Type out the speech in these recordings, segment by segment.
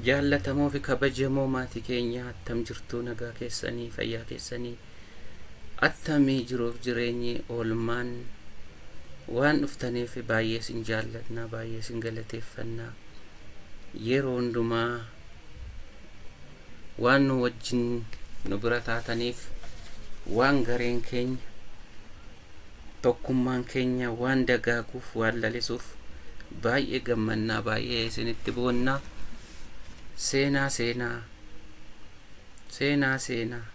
Jaallatamoo fi kabajamoo maatii keenyaa attam jirtuu nagaa keessanii fayyaa keessanii attamii jiruuf jireenyi oolmaan waan dhuftaniif baay'ee sin jaallatna baay'ee sin galateeffanna yeroo hundumaa waan nu wajjin nu bira taataniif waan gareen keenya Tokkummaan keenya waan dagaaguuf, waan lalisuuf baay'ee gammannaa, baay'ee isinitti boonna. Seenaa seenaa, seenaa seenaa.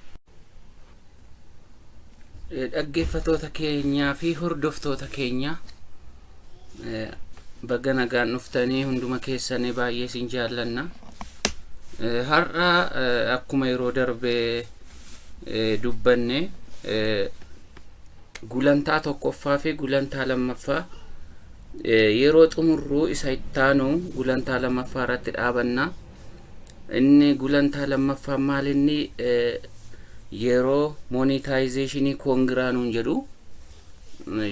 Dhaggeeffatoota keenyaa fi hordoftoota keenya Baga nagaan dhuftanii hunduma keessanii baay'ee isin jaallanna. Har'a akkuma yeroo darbe dubbanne gulantaa tokkoffaa fi gulantaa lammaffaa yeroo xumurruu isa ittaanu gulantaa lammaffaa irratti dhaabanna. Inni gulantaa lammaffaa maal inni yeroo monetization koongiraa nuun jedhu.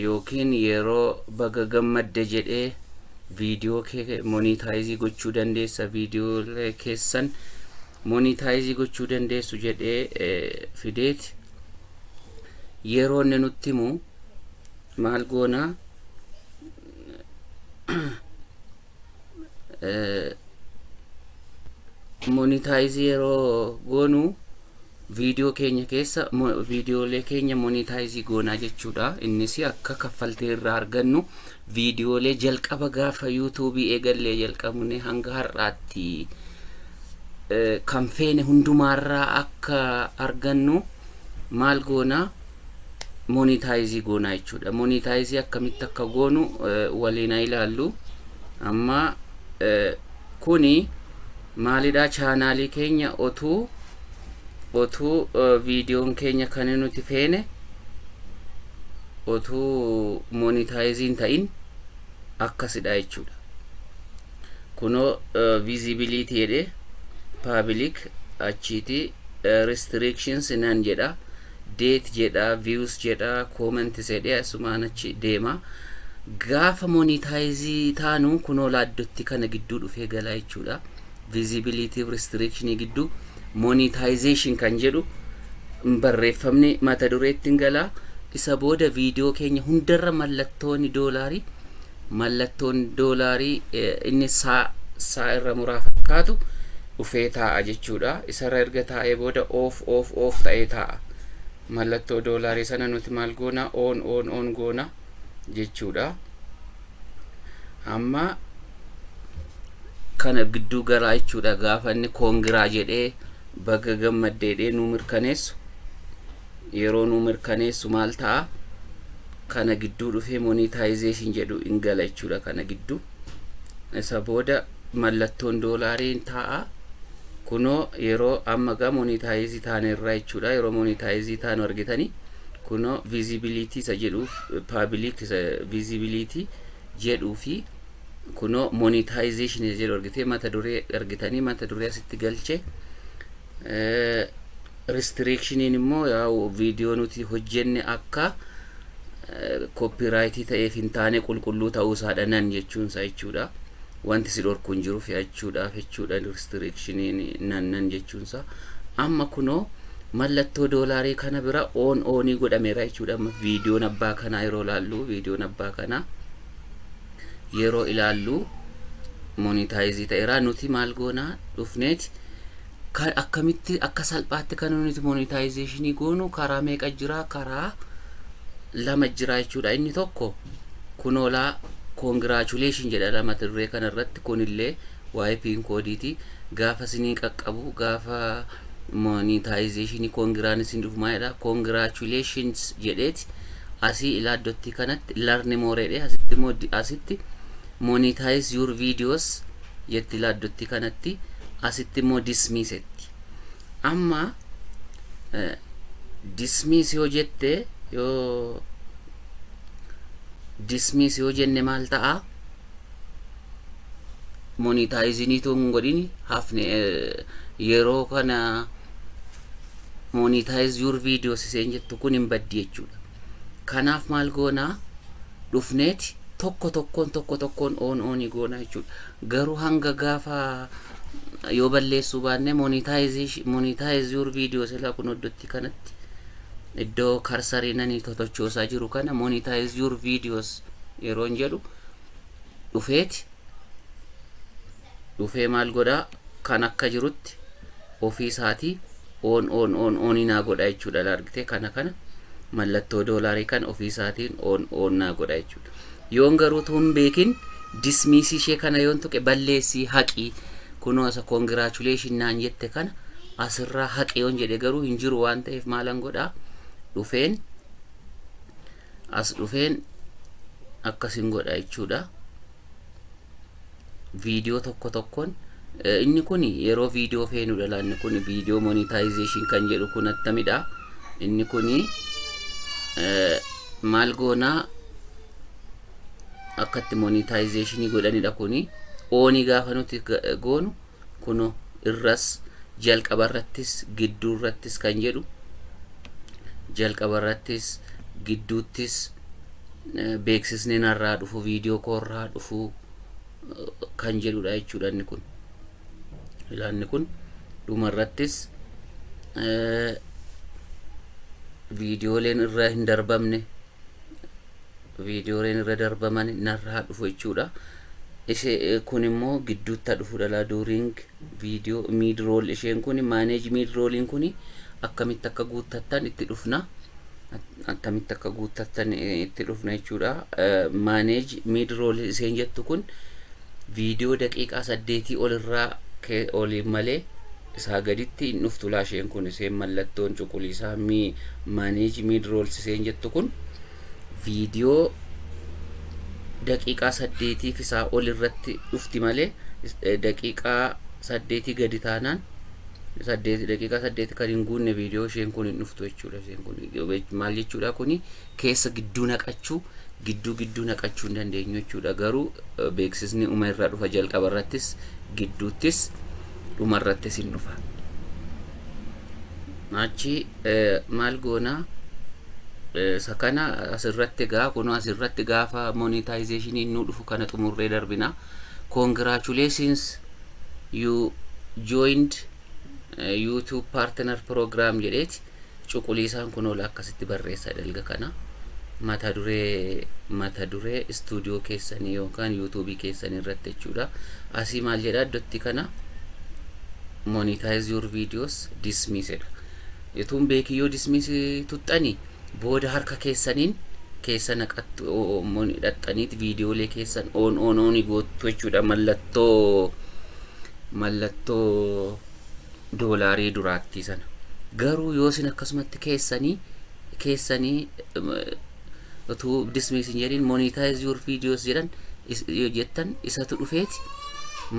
yookiin yeroo baga gammadde jedhee viidiyoo kee monitaayizii gochuu dandeessa viidiyoolee keessan monitaayizii gochuu dandeessu jedhee fideeti yeroo inni nutti himu maal goona monitaayizii yeroo goonu Viidiyoo keenya keessa viidiyoolee keenya monitaayizii goonaa jechuudha. Innis akka kaffaltii irraa argannu viidiyoolee jalqaba gaafa yuutuubii eegallee jalqabne hanga har'aatti kan feene hundumaarraa akka argannu maal goona monitaayizii goonaa jechuudha. Monitaayizii akkamitti akka goonu waliin ilaallu amma kuni Maalidhaa chaanaalii keenya otuu otuu viidiyoon keenya kan nuti feene otuu monitaayiziin ta'in akkasidha jechuudha kunoo visibility jedhe public achiiti restrictions nan jedha date jedha views jedha comments jedhe asumaan achi deema gaafa monetize taanu kunoo laaddotti kana gidduu dhufee galaa jechuudha visibility fi restriction gidduu monetization kan jedhu hin barreeffamne mata dureetti hin galaa isa booda viidiyoo keenya hundarra mallattooni doolaarii mallattoon doolaarii inni saa saa irra muraa fakkaatu dhufee taa'a jechuudha. Isarra erga taa'ee booda oof oof oof ta'ee taa'a. Mallattoo doolaarii sana nuti maal goona oon oon oon goona jechuudha. Amma kana gidduu galaa jechuudha gaafa inni koongiraa jedhee baga gammaddeedhee nu mirkaneessu yeroo nu mirkaneessu maal ta'a? kana gidduu dhufee monetization jedhu in gala jechuudha kana gidduu isa booda mallattoon doolaarii in taa'a kunoo yeroo amma gaa monetizii taane irraa jechuudha yeroo monetizii taanu argitanii kunoo visibility isa jedhuuf public isa visibility jedhuu fi kunoo monetization isa jedhu argitee mata duree argitanii mata duree asitti galche Restriction'n immoo yaa'u video nuti hojjenne akka copyright ta'eef hin taane qulqulluu ta'uu isaadha nan jechuun isaa jechuudha. Wanti si dhorku hin jiru fe'achuudhaaf jechuudha restriction'n nan nan jechuun isaa. Amma kunoo mallattoo doolaarii kana bira on onii godhameera jechuudha. Amma viidiyoon abbaa kanaa yeroo ilaallu viidiyoon abbaa kanaa yeroo ilaallu monitaayizii ta'eera nuti maal goonaa dhufneeti Kan akkamitti akka salphaatti kan nuti monetization goonu karaa meeqa jira karaa lama jira jechuudha inni tokko kunoolaa congratulation jedha lama dirree kana irratti kunillee waa'ee piin koodiiti gaafa isinii qaqqabu gaafa monetization kongiraan isin dhufu maalidha congratulations jedheeti asii ilaaddottii kanatti larni mooreedhe asitti immoo asitti Monetize your videos jetti laa dotti kanatti asitti immoo dismiss jetti amma eh, dismiss yoo jette yoo dismiss yoo jenne maal ta'a monetizing itoo hin godhin hafne eh, yeroo kana monetize your videos iseen jettu kun hin baddi jechuudha Kanaaf maal goona? Dhufneeti tokko tokkoon tokko tokkoon oon oonii goona jechuudha. Garuu hanga gaafa yoo balleessuu baannee monetize your video silaa kun iddootti kanatti iddoo karsarii nani totochoosaa jiru kana monetize your videos yeroon jedhu dhufeeti dhufee maal godha kan akka jirutti ofii isaatii on on on on naa godha jechuudha laargite kana kana mallattoo doolaarii kan ofii isaatiin on on naa godha jechuudha yoon garuu tuun beekin dismiisii ishee kana yoon tuqe balleessii haqii kunoo asa congratulation naan jette kana asirraa haqi yoon jedhe garuu hin jiru waan ta'eef maalan godha dhufeen as dhufeen akkasin godha jechuudha. viidiyoo tokko tokkoon inni kun yeroo viidiyoo feenudha laa inni kun viidiyoo monetization kan jedhu kun attamidha inni kun maal goonaa akkatti monetization godhanidha kun oonii gaafa nuti goonu Kunoo, irras, jalqaba irrattis, gidduu irrattis kan jedhu, jalqaba irrattis, gidduuttis eh, beeksisni narraa dhufu, viidiyoo koorraa dhufu eh, kan jedhudha jechuudha inni kun. Ilaanni kun dhuma irrattis eh, viidiyooleen irra hin darbamne viidiyooleen irra darbaman narraa dhufu jechuudha. Ise kun immoo gidduutta dhufu dhala during viidiyoo miidrool isheen kun maaneej miidrooliin kun akkamitti akka guuttattan itti dhufna. Akkamitti akka guuttattan itti dhufna jechuudha. Maaneej miidrool isheen jettu kun viidiyoo daqiiqaa saddeetii olirraa oliin malee isaa gaditti hin dhuftu laasheen kun isheen mallattoon cuquliisaa maaneej miidrool isheen jettu kun. viidiyoo daqiiqaa saddeetii fi isaa ol irratti dhufti malee daqiiqaa saddeetii gadi taanaan saddeet daqiiqaa saddeeti kan hin guunne viidiyoo isheen kun hin dhuftu jechuudha isheen kun maal jechuudha kuni keessa gidduu naqachuu gidduu gidduu naqachuu hin dandeenyu jechuudha garuu beeksisni uma irraa dhufa jalqaba irrattis gidduuttis dhuma irrattis hin dhufa. achi maal goona isa kana asirratti gaa kunoo asirratti gaafa monetization nu dhufu kana xumurree darbina congratulations you joined uh, youtube partner program jedheeti cuquliisaan kunoo akkasitti barreessa dalga kana mata duree mata duree istuudiyoo keessanii yookaan yuutuubii keessanii irratti jechuudha asii maal jedha iddootti kana monetize your videos dismiss jedha utuun beekii yoo dismiss tuxxani booda harka keessaniin keessa naqattu mon dhaxxaniit viidiyoolee keessan on on on goottu jechuudha mallattoo mallattoo doolaarii duraattii sana garuu yoo isin akkasumatti keessanii keessanii utuu dismiss hin jedhin monetize your videos jedhan yoo jettan isatu dhufeeti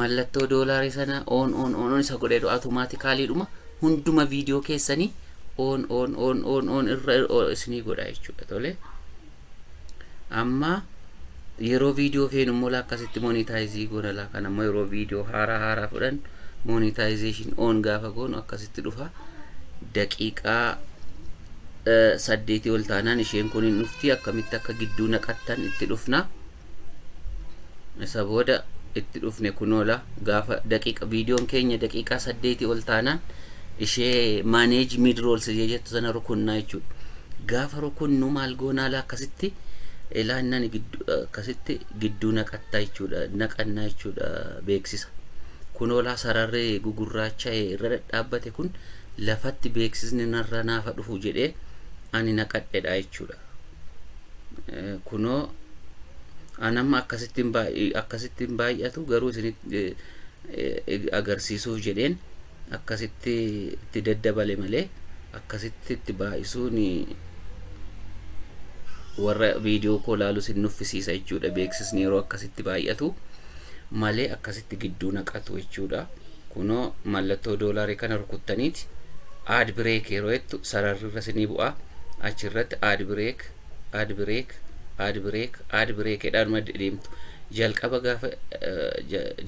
mallattoo doolaarii sana on on on on isa godheedhu automaatikaalii dhuma hunduma viidiyoo keessanii on on on on on irra isinii godha jechuudha tole amma yeroo viidiyoo feenu immoo akkasitti monetaayizii goona laa kan ammoo yeroo viidiyoo haaraa haaraa fudhan monetization on gaafa goonu akkasitti dhufa daqiiqaa saddeetii ol taanaan isheen kun hin dhufti akkamitti akka gidduu naqattan itti dhufna isa booda itti dhufne kunoola gaafa daqiiqa viidiyoon keenya daqiiqaa saddeetii ol taanaan ishee maaneeji miidroolsi ishee jettu sana rukunnaa jechuudha gaafa rukunnu maal goonaala akkasitti ilaannan akkasitti gidduu naqattaa jechuudha naqannaa jechuudha beeksisa kunoolaa sararri gugurraacha irra dhadhaabbate kun lafatti beeksisni narra naafa dhufu jedhee ani naqadhedha jechuudha. Kunoo an amma akkasittiin baay- akkasittiin baay'atu garuu isinitti eh, eh, agarsiisuuf jedheen akkasitti itti daddabale malee akkasitti itti baay'isuun warra viidiyoo koo laalu sin nuffisiisa jechuudha beeksisni yeroo akkasitti baay'atu malee akkasitti gidduu naqatu jechuudha. Kunoo mallattoo doolarii kana rukuttaniit add break yeroo jettu sararri irra isinii bu'a. Achi irratti add break, add break, add break, add break jedhaan madde deemtu. Jalqaba gaafa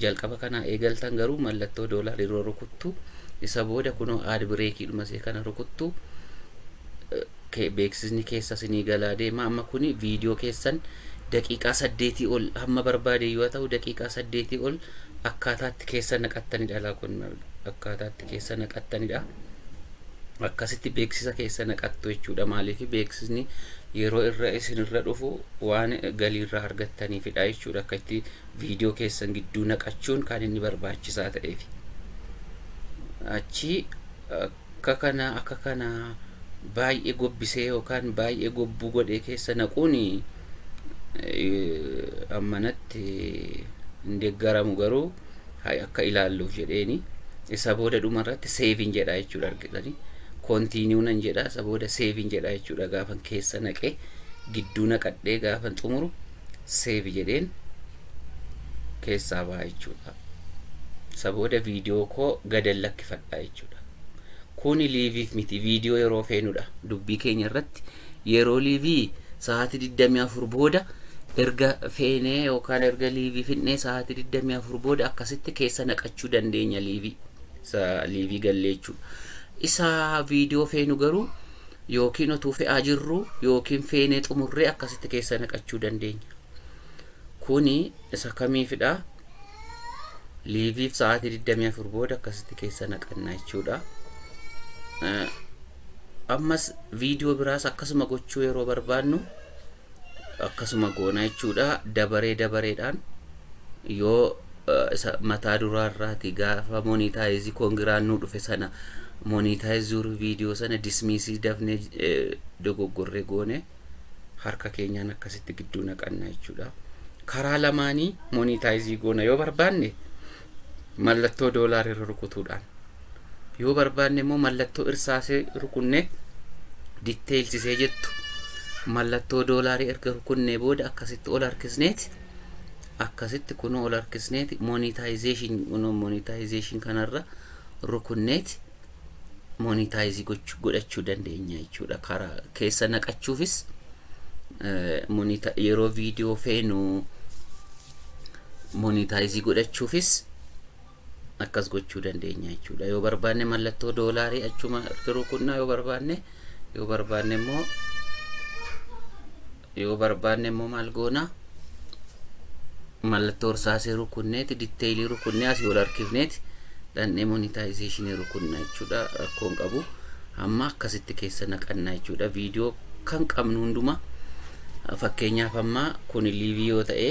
jalqaba kanaa eegaltan garuu mallattoo doolarii yeroo rukuttu isa booda kunoo add break dhuma isee kana rukuttu. ke- beeksisni keessa sinii galaa deema amma kuni viidiyoo keessan daqiiqaa saddeetii ol hamma barbaade yoo ta'u daqiiqaa saddeetii ol akkaataatti keessa naqattanidha laa kun akkaataatti keessa naqattanidha akkasitti beeksisa keessa naqattu jechuudha maaliif beeksisni yeroo irra isinirra dhufu waan galiirraa argattaniifidha jechuudha akka itti viidiyoo keessan gidduu naqachuun kan inni barbaachisaa ta'eef achi akka kana akka kana baay'ee gobbisee yookaan baay'ee gobbuu godhee keessa naquun ammanatti hin deeggaramu garuu akka ilaalluuf jedheeni isa booda dhuma irratti seeviin jedhaa jechuudha argitanii koontiiniyuu nan jedhaa isa booda seeviin jedhaa jechuudha gaafan keessa naqee gidduu naqadhee gaafan xumuru seevi jedheen keessaa ba'a jechuudha. Isa booda viidiyoo koo gadan lakkifadha jechuudha. Kuni liiviif miti viidiyoo yeroo feenudha. Dubbii keenya irratti yeroo liivii sa'aatii 24 booda erga feenee yookaan erga liivii finnee sa'aatii 24 booda akkasitti keessa naqachuu dandeenya liivii. Isa liivii gallee jechuudha. Isa viidiyoo feenu garuu Yookiin otuu fe'aa jirruu yookiin feenee xumurree akkasitti keessa naqachuu dandeenya. Kuni isa kamiifidha? Liiviif sa'aatii 24 booda akkasitti keessa naqanna jechuudha. Ammas viidiyoo biraas akkasuma gochuu yeroo barbaannu akkasuma goona jechuudha dabaree dabareedhaan yoo isa mataa duraa irraati gaafa monitaayizi koongiraan nu dhufe sana monitaayiz zuur viidiyoo sana dismiisii dafnee dogoggorree goone harka keenyaan akkasitti gidduu naqanna jechuudha karaa lamaanii monitaayizii goona yoo barbaanne mallattoo doolaar irra rukutuudhaan yoo barbaanne immoo mallattoo irsaasee rukunnee diteeylsisee jettu mallattoo doolaarii erga rukunnee booda akkasitti ol harkisneeti akkasitti kunoo ol harkisneeti monitaayizeeshin kunoo monitaayizeeshin kanarra rukunneeti monitaayizi godhachuu dandeenya jechuudha karaa keessa naqachuufis yeroo viidiyoo feenu monitaayizii godhachuufis akkas gochuu dandeenya jechuudha yoo barbaanne mallattoo doolaarii achuma rukunnaa yoo barbaanne yoo barbaanne immoo yoo barbaanne immoo maal goona mallattoo irsaasee rukunneeti ditteeyilii rukunnee asii ol harkifneeti dhandhee monitaayizeeshinii rukunna jechuudha rakkoon qabu amma akkasitti keessa naqannaa jechuudha viidiyoo kan qabnu hundumaa fakkeenyaaf amma kun liivii yoo ta'e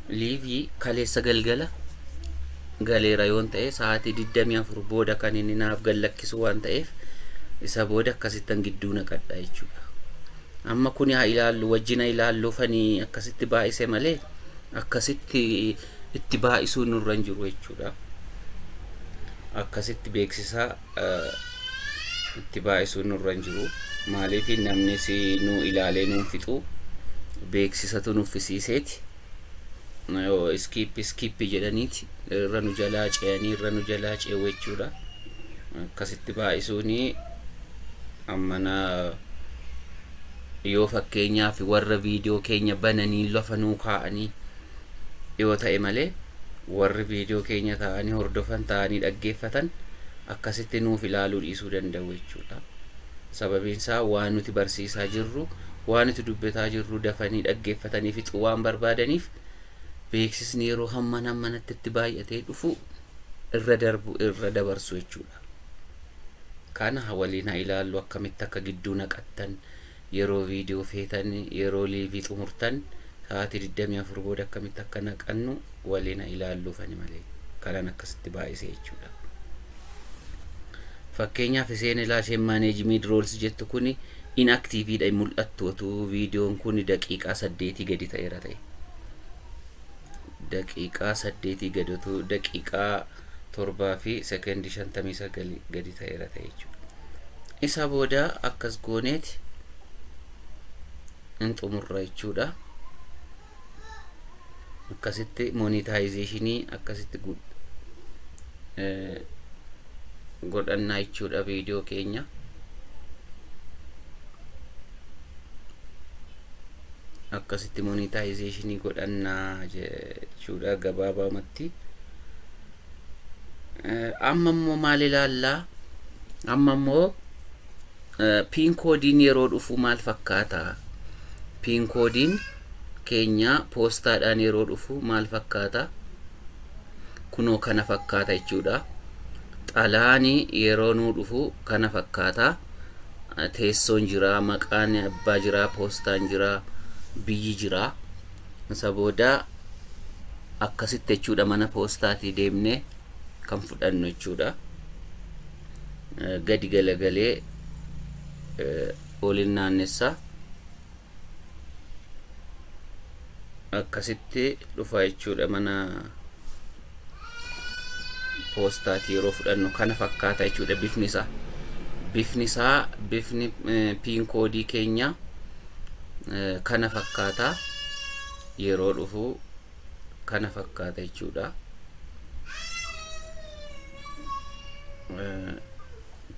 Liivii kaleessa galgala galeera yoon ta'e sa'aatii 24 booda kan inni naaf gallakkisu waan ta'eef isa booda akkasittan gidduu naqadha jechuudha. Amma kuni haa ilaallu wajjina ilaalluufanii akkasitti baay'ise malee akkasitti itti baay'isuu nurra hin jiru jechuudha. Akkasitti beeksisaa itti baay'isuun nurra hin jiru. Maaliif namnis nu ilaalee nuun fixu beeksisatu nuffisiiseeti. Yoo iskiippi iskiippi jedhaniiti irra nu jalaa ce'anii irra nu jalaa ce'u jechuudha. Akkasitti baay'isuun ammana yoo fakkeenyaaf warra viidiyoo keenya bananii lafa nuu kaa'anii yoo ta'e malee warri viidiyoo keenya taa'anii hordofan, taa'anii dhaggeeffatan akkasitti nuuf ilaaluu dhiisuu danda'u jechuudha. Sababiin isaa waan nuti barsiisaa jirru, waan nuti dubbataa jirru dafanii dhaggeeffatanii fixuu waan barbaadaniif beeksisni yeroo hamman hammanatti itti baay'atee dhufu irra darbu irra dabarsu jechuudha. Kana waliin haa ilaallu akkamitti akka gidduu naqattan yeroo viidiyoo feetan yeroo liivii xumurtan sa'aatii 24 booda akkamitti akka naqannu waliin haa ilaalluuf ani malee kanan akkasitti baay'ise jechuudha. Fakkeenyaaf isheen ilaa isheen manage mid rolls jettu kuni inactive dha hin mul'attu otuu viidiyoon kuni daqiiqaa saddeetii gadi ta'eera ta'e. Daqiiqaa saddeetii gadi otuu daqiiqaa 7:59 gadi ta'eera ta'e jechuudha. Isa booda akkas gooneeti hin xumurra jechuudha. Akkasitti monitaayizeeshinii akkasitti godhannaa jechuudha viidiyoo keenya. Akkasitti monitaayizeeshinii godhannaa jechuudha gabaabamatti. amma immoo maal ilaallaa amma immoo piin koodiin yeroo dhufu maal fakkaata piin koodiin keenya poostaadhaan yeroo dhufu maal fakkaata kunoo kana fakkaata jechuudha xalaani yeroo nuu dhufu kana fakkaata teessoon jira maqaan abbaa jira poostaan jira biyyi jira Isa booda akkasitti jechuudha mana poostaatii deemnee kan fudhannu jechuudha. Gadi galagalee olin naannessa akkasitti dhufa jechuudha mana poostaati yeroo fudhannu kana fakkaata jechuudha bifni isaa bifni isaa bifni piin koodii keenya kana fakkaata yeroo dhufu kana fakkaata jechuudha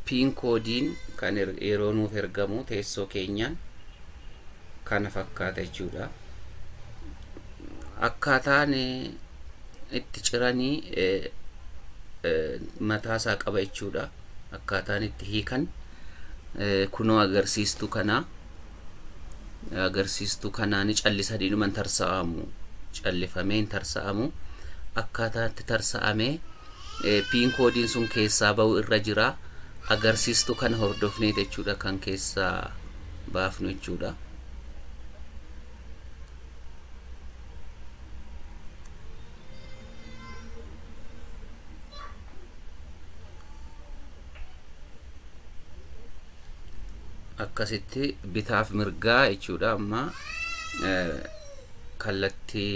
piin koodiin kan yeroo nuuf ergamu teessoo keenyaan kana fakkaata jechuudha. Akkaataan itti ciranii mataa isaa qaba jechuudha. Akkaataan itti hiikan kunoo agarsiistuu kanaa agarsiistuu kanaa ni callisanii dhuma hin tarsa'amu. Callifamee hin tarsa'amu. Akkaataan itti tarsa'amee piin koodiin sun keessaa ba'u irra jira. Agarsiistuu kana hordofnee jechuudha kan keessaa baafnu jechuudha. akkasitti bitaaf mirgaa jechuudha amma kallattii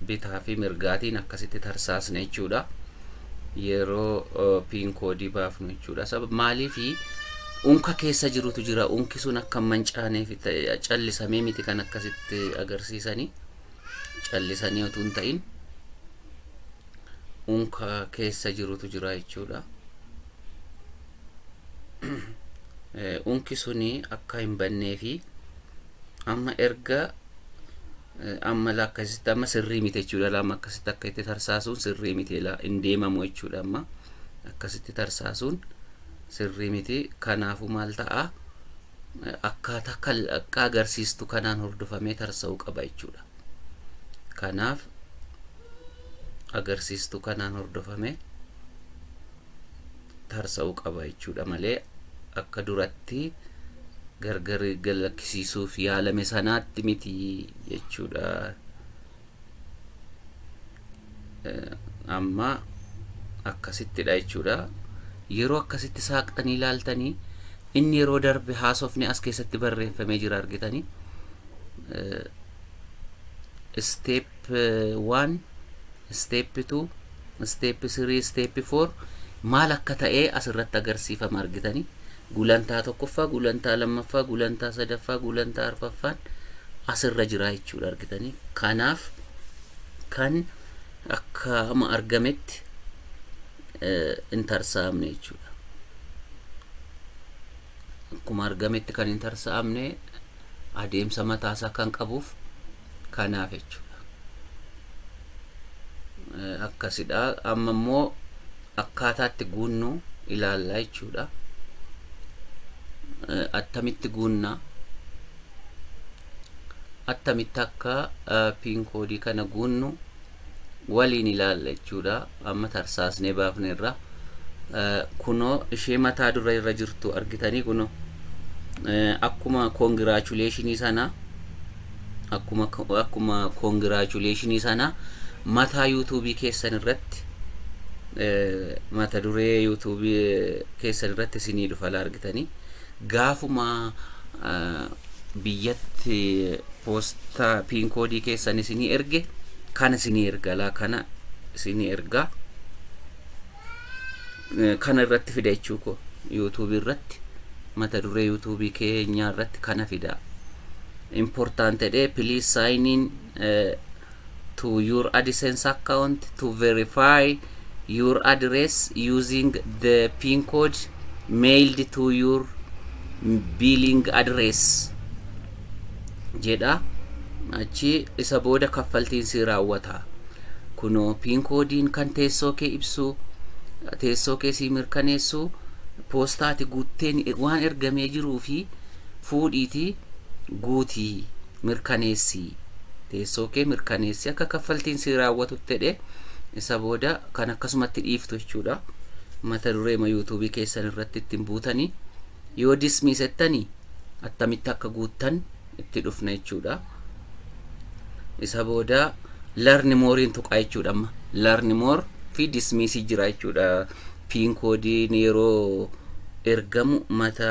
bitaa fi mirgaatiin akkasitti tarsaasne jechuudha. yeroo piin koodii baafnu jechuudha. Sabab maaliif unka keessa jirutu jira. Unki sun akka hin mancaaneef ta'e callisamee miti kan akkasitti agarsiisanii callisanii utuu hin ta'in unka keessa jirutu jira jechuudha. Eh, Unki suni akka hin bannee fi amma erga Amma la akkasitti amma sirrii miti jechuudha la amma akkasitti akka itti tarsaasuun sirrii miti la hin deemamu jechuudha amma akkasitti tarsaasuun sirrii miti kanaafuu maal ta'a akkaataa kal akka agarsiistu kanaan hordofamee tarsa'uu qaba jechuudha kanaaf agarsiistu kanaan hordofamee tarsa'uu qaba jechuudha malee akka duratti gargar galakkisiisuuf yaalame sanaatti miti jechuudha. Amma akkasittidha jechuudha. Yeroo akkasitti saaqxanii ilaaltanii inni yeroo darbe haasofni as keessatti barreeffamee jira argitanii. step 1 step 2 step 3 step 4 maal akka ta'ee asirratti agarsiifama argitanii gulantaa tokkoffaa gulantaa lammaffaa gulantaa sadaffaa gulantaa arfaffaan asirra jiraa jechuudha argitanii kanaaf kan akka ama argametti hin tarsa'amne jechuudha akkuma argametti kan hin tarsa'amne adeemsa mataasaa kan qabuuf kanaaf jechuudha. Akkasidha. Amma immoo akkaataatti guunnu ilaalla jechuudha. Attamitti guunna? Attamitti akka piin koodii kana guunnu waliin ilaalla jechuudha amma tarsaasnee baafne irra kunoo ishee mataa dura irra jirtu argitanii kunoo akkuma koongiraachuleshinii sana akkuma akkuma koongiraachuleshinii sana mataa yuutuubii keessan irratti mata duree yuutuubii keessan irratti isinii dhufa argitanii Gaafuma biyyatti poostaa pin koodii keessan isinii erge kana isinii erga laa kana isinii erga kana irratti fida jechuu koo yuutuubii irratti mata duree yuutuubii keenyaa irratti kana fida important jedhee please sign in eh, to your AdSense account to verify your address using the pin code mailed to your billing address jedha achi isa booda kaffaltiin si raawwata kunoo pin koodiin kan teessoo kee ibsu teessoo kee si mirkaneessu poostaati guutteen waan ergamee jiruu fi fuudhiiti guutii mirkaneessii teessoo kee mirkaneessi akka kaffaltiin si raawwatutti jedhe isa booda kan akkasumatti dhiiftu jechuudha mata duree ma yuutuubii keessan irratti ittiin buutanii yoo dismiis jettanii attamitti akka guuttan itti dhufna jechuudha isa booda learn more'n tuqaa jechuudha amma learn more fi dismiisii jira jechuudha piin koodiin yeroo ergamu mata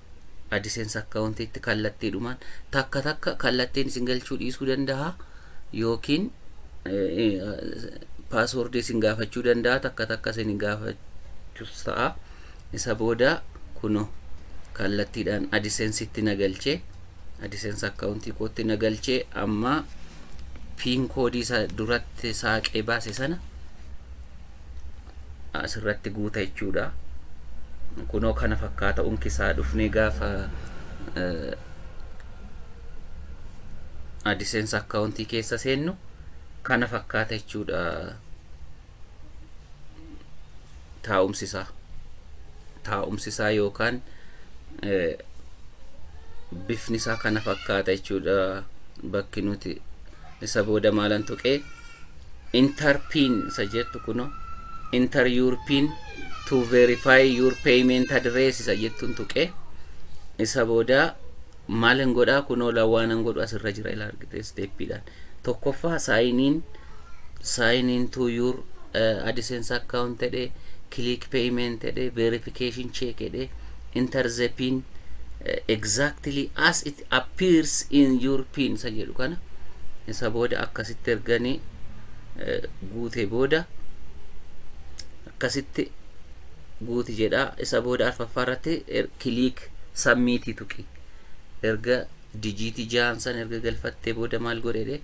Adsense account itti kallattiidhumaan takka takka kallattiin isin galchuu dhiisuu danda'a yookiin paaswoordii isin gaafachuu danda'a takka takka isin gaafachus ta'a isa booda kuno kallattiidhaan Adsense itti na galchee Adsense account kootti na galchee amma piin koodii isa duratti saaqee baase sana asirratti guuta jechuudha. Kunoo kana fakkaata unki isaa dhufnee gaafa AdSense akkaawuntii keessa seennu kana fakkaata jechuudha taa'umsi isaa. Taa'umsi isaa yookaan bifni isaa kana fakkaata jechuudha bakki nuti isa booda maalan tuqee Enter pin isa jettu kuno enter your pin to verify your payment address isa jettun tuqe isa booda maalin godhaa kunoo lawaanan godhu asirra jira ila argite steppiidhaan tokkoffaa saayiniin saayiniin to your uh, AdSense account jedhe click payment jedhe verification check jedhe interzepin exactly as it appears in your pin isa jedhu kana isa booda akkasitti erganii guute booda akkasitti guuti jedha isa booda arfaffaa irratti kiliik sammiitii tuqi erga dijiitii jahan san erga galfattee booda maal godhedhe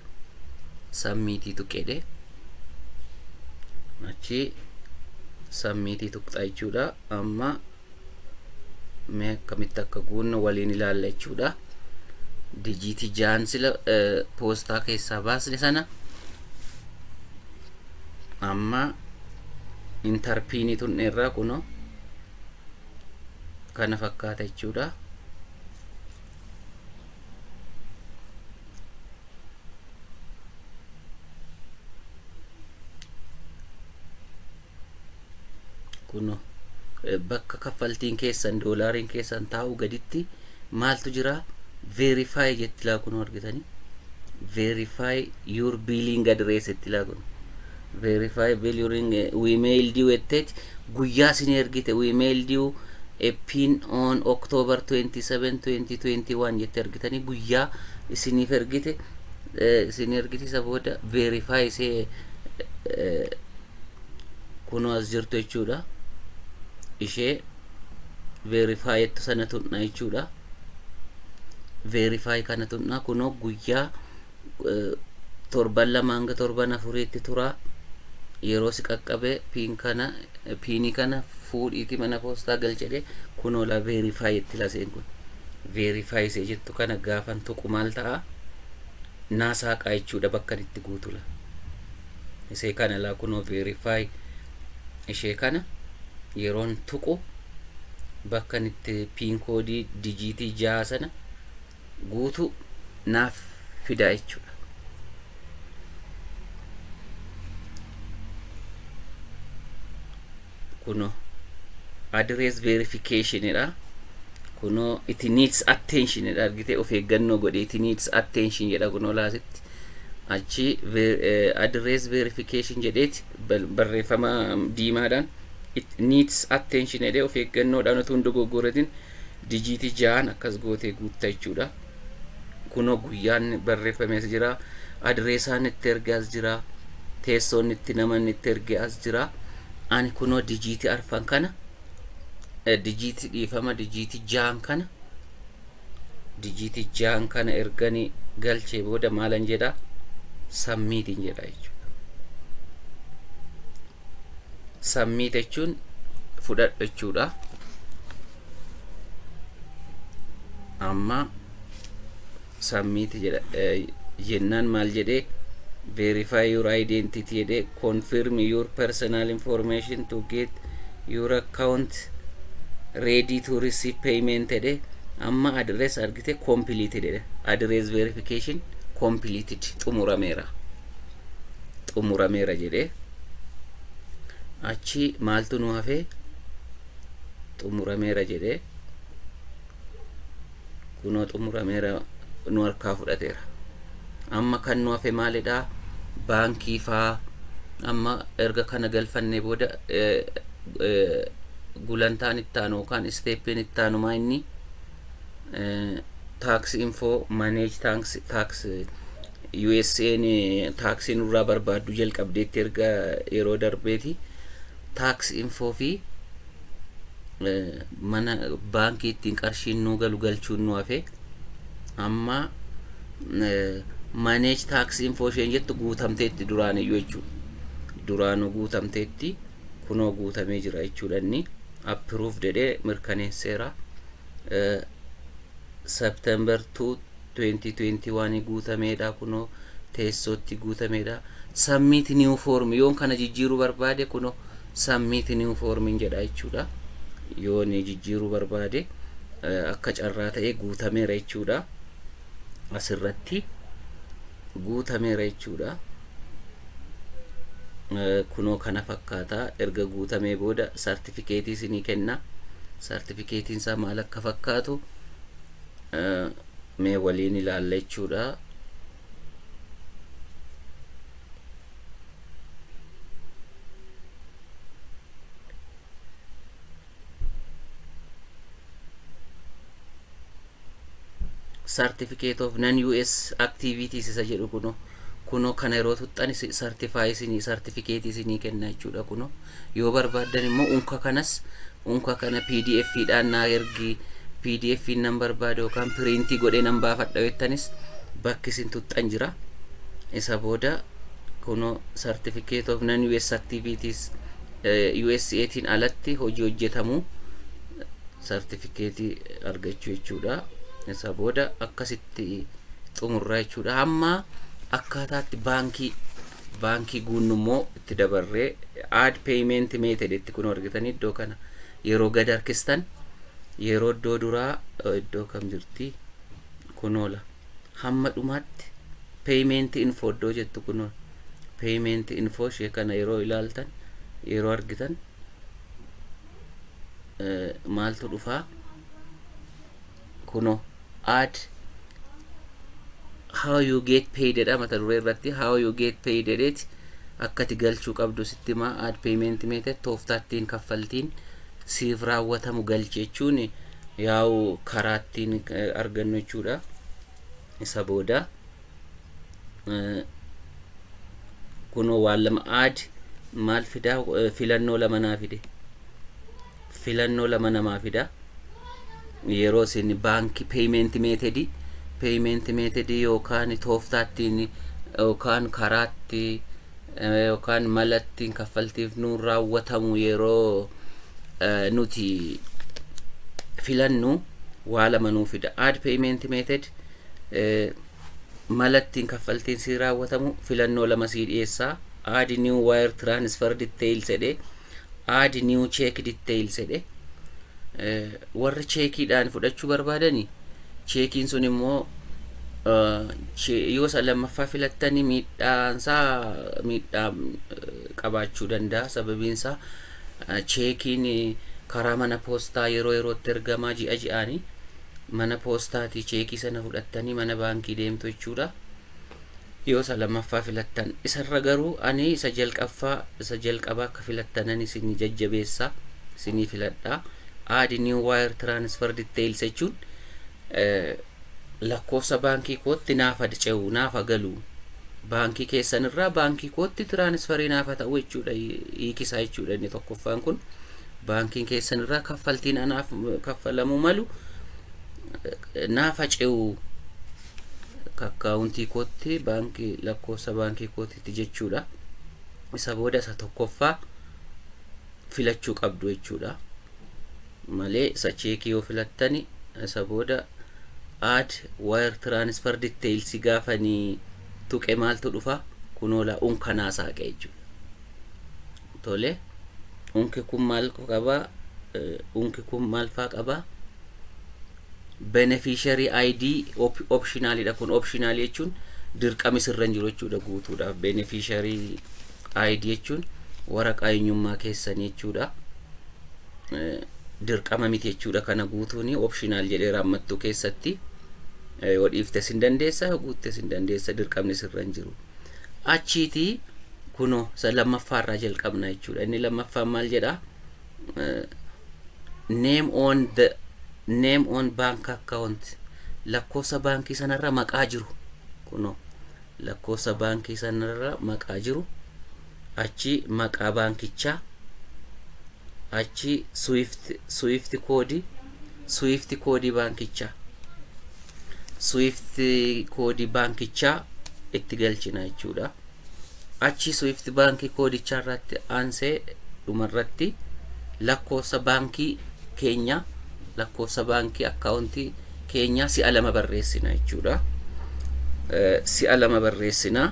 sammiitii tuqedhe achi sammiitii tuqxa jechuudha amma mee akkamitti akka guunnu waliin ilaalla jechuudha dijiitii jaan sila poostaa keessaa baasne sana amma intarpiinii tunne irraa kuno kana fakkaata jechuudha kun bakka kaffaltiin keessan doolaariin keessan taa'u gaditti maaltu jira verify jetti laa kun argitanii verify your billing address jetti laa kun verify billing we mailed you etteeti guyyaa sin ergite we mailed you a pin on October 27 2021 jetti argitanii guyyaa isiniif ergite isin ergite isa booda verify isee kunoo as jirtu jechuudha ishee verify jettu sana tuqna jechuudha verify kana tuqna kunoo guyyaa eh, torban lama hanga torban afuriitti tura yeroo si qaqqabe piin kana eh, piinii kana fuudhiiti mana poostaa galchedhe kunoo la verify jetti laseen kun verify isee jettu kana gaafan tuqu maal ta'a naa saaqaa jechuudha bakkan itti guutula isee kana laa kunoo verify ishee kana yeroon tuqu bakka itti piin koodii dijiitii jaha sana guutuu naaf fidaa jechuudha. kuno address verification dha kuno it needs attention dha argite of eeggannoo godhi it needs attention jedha kuno laasitti achi ver- eh, address verification jedheeti bal- barreeffama diimaadhaan it needs attention jedhee of eeggannoodhaan utuu hin dogoggoratin dijiitii ja'an akkas gootee guutta jechuudha kunoo guyyaan barreeffamees jira adireesaan itti erge as jira teessoon itti namanni itti erge as jira ani kunoo dijiitii arfan kana eh, dijiitii dhiifama dijiitii jaan kana dijiitii jaan kana ergani galchee booda maalan jedha sammiitiin jedha jechuudha submit jechuun fudhadhu jechuudha amma submit jedha jennaan maal jedhee verify your identity jedhee confirm your personal information to get your account ready to receive payment jedhe amma address argite completed jedhe address verification completed xumurameera xumurameera jedhe achi maaltu nu hafe xumurameera jedhe kunoo xumurameera nu harkaa fudhateera amma kan nu hafe maalidha baankii faa amma erga kana galfannee booda eh, eh, gulantaan ittaanu yookaan isteeppiin ittaanu maa inni taaks info maneej taaks USA'n taaksii nurraa barbaadduu jalqabdeetti erga yeroo darbeeti. Taaks infoo fi mana baankii ittiin qarshiin nuu galu galchuun nu hafe. Amma maneej taaks infoo isheen jettu guutamteetti duraaniyyuu jechuudha. Duraanuu guutamteetti kunoo guutamee jira jechuudha inni. Appiruuf jedhee mirkaneesseera. September 2 2021 guutameedha kunoo teessootti guutameedha. Submit new form yoon kana jijjiiruu barbaade kunoo submit new form jedha jechuudha. Yoon jijjiiruu barbaade akka carraa ta'ee guutameera jechuudha. Asirratti guutameera jechuudha. Kunoo kana fakkaata erga guutamee booda sartifikeetii isinii kenna. Sartifikeetiin isaa maal akka fakkaatu. mee waliin ilaalla jechuudha. Certificate of non-US activities isa jedhu kunoo. Kunoo kana yeroo tuxxan certify isinii certificate isinii kenna jechuudha kunoo yoo barbaaddan immoo unka kanas unka kana pdf dhaan naa ergi pdf nan barbaada yookaan piriintii godhee nan baafadha jettanis bakki isin tuxxan jira isa booda kunoo certificate of non US activities USA tiin alatti hojii hojjetamu certificate argachuu jechuudha isa booda akkasitti xumurraa jechuudha amma akkaataatti baankii baankii guunnu immoo itti dabarree aad peeyimenti meeted itti kun argitan iddoo kana yeroo gad harkistan yeroo iddoo duraa iddoo kam jirti kun oola hamma dhumaatti peeyimenti infoo iddoo jettu kun oola peeyimenti infoo ishee kana yeroo ilaaltan yeroo argitan maaltu dhufaa kuno add how you get paid jedha mata duree irratti how you get paid jedheeti akkati galchuu qabdu sitti himaa add payment method tooftaattiin kaffaltiin siif raawwatamu galchi jechuun yaa'u karaattiin argannu jechuudha isa booda kunoo waan lama aad maal fidaa filannoo lama naa fide filannoo lama namaa fida yeroo isin baankii peeyimenti meetedii peeyimenti meetedii yookaan tooftaattiin yookaan karaatti yookaan malattiin kaffaltiif nuun raawwatamu yeroo nuti filannu waa lama nuu fida aad peeyimenti meeted Mala ittiin kaffaltiin sii raawwatamu filannoo lama sii dhiyeessa. Add new wire transfer details jedhe. Add new check details jedhe. Warri cheekiidhaan fudhachuu barbaadani cheekiin sun immoo yoo isa lammaffaa filattanii miidhaansaa miidhaa qabaachuu danda'a sababiinsaa cheekiin karaa mana poostaa yeroo yerootti ergamaa ji'a ji'aanii mana poostaatii cheekii sana fudhattanii mana baankii deemtu jechuudha. Yoo isa lammaffaa filattan. Isarra garuu ani isa jalqaffaa isa jalqabaa akka filattanan isin jajjabeessa isinii filadha. Add new wire transfer details jechuun lakkoofsa baankii kootti naaf adce'u naaf agalu baankii keessanirraa baankii kootti tiraanisfarii naaf ta'u jechuudha hiikisaa jechuudha inni tokkoffaan kun. Baankiin keessan irraa kaffaltiin anaaf kaffalamuu malu naaf hace'u akkaawuntii kootti baankii lakkoofsa baankii kootiitti jechuudha. Isa booda isa tokkoffaa filachuu qabdu jechuudha. Malee isa cheekii yoo filattani isa booda aad wire transfer details gaafanii tuqe maaltu dhufa kunoola unkanaa saaqe jechuudha. tole unki kun maal qaba unki kun maal faa qaba beneficiary id op- optional dha kun optional jechuun dirqami sirra hin jiru jechuudha guutuudhaaf beneficiary id jechuun waraqaa eenyummaa keessan jechuudha Eh, dirqama miti jechuudha kana guutuuni optional jedheera ammattuu keessatti Eh, yoo dhiiftes hin dandeessa yoo guuttes hin dandeessa dirqamni sirra hin jiru Achiitii kunoo isa lammaffaa irraa jalqabna jechuudha. Inni lammaffaan maal jedha? Name on the name on bank account lakkoofsa baankii sanarra maqaa jiru kunoo lakkoofsa baankii sanarra maqaa jiru achi maqaa baankichaa achi swift swift koodii Swift koodii baankichaa Swift koodii baankichaa itti galchina jechuudha. Achi Swift baankii koodichaa irratti aansee dhumarratti lakkoofsa baankii keenya lakkoofsa baankii akkaawuntii keenyaa si'a lama barreessina jechuudha. Si'a lama barreessina.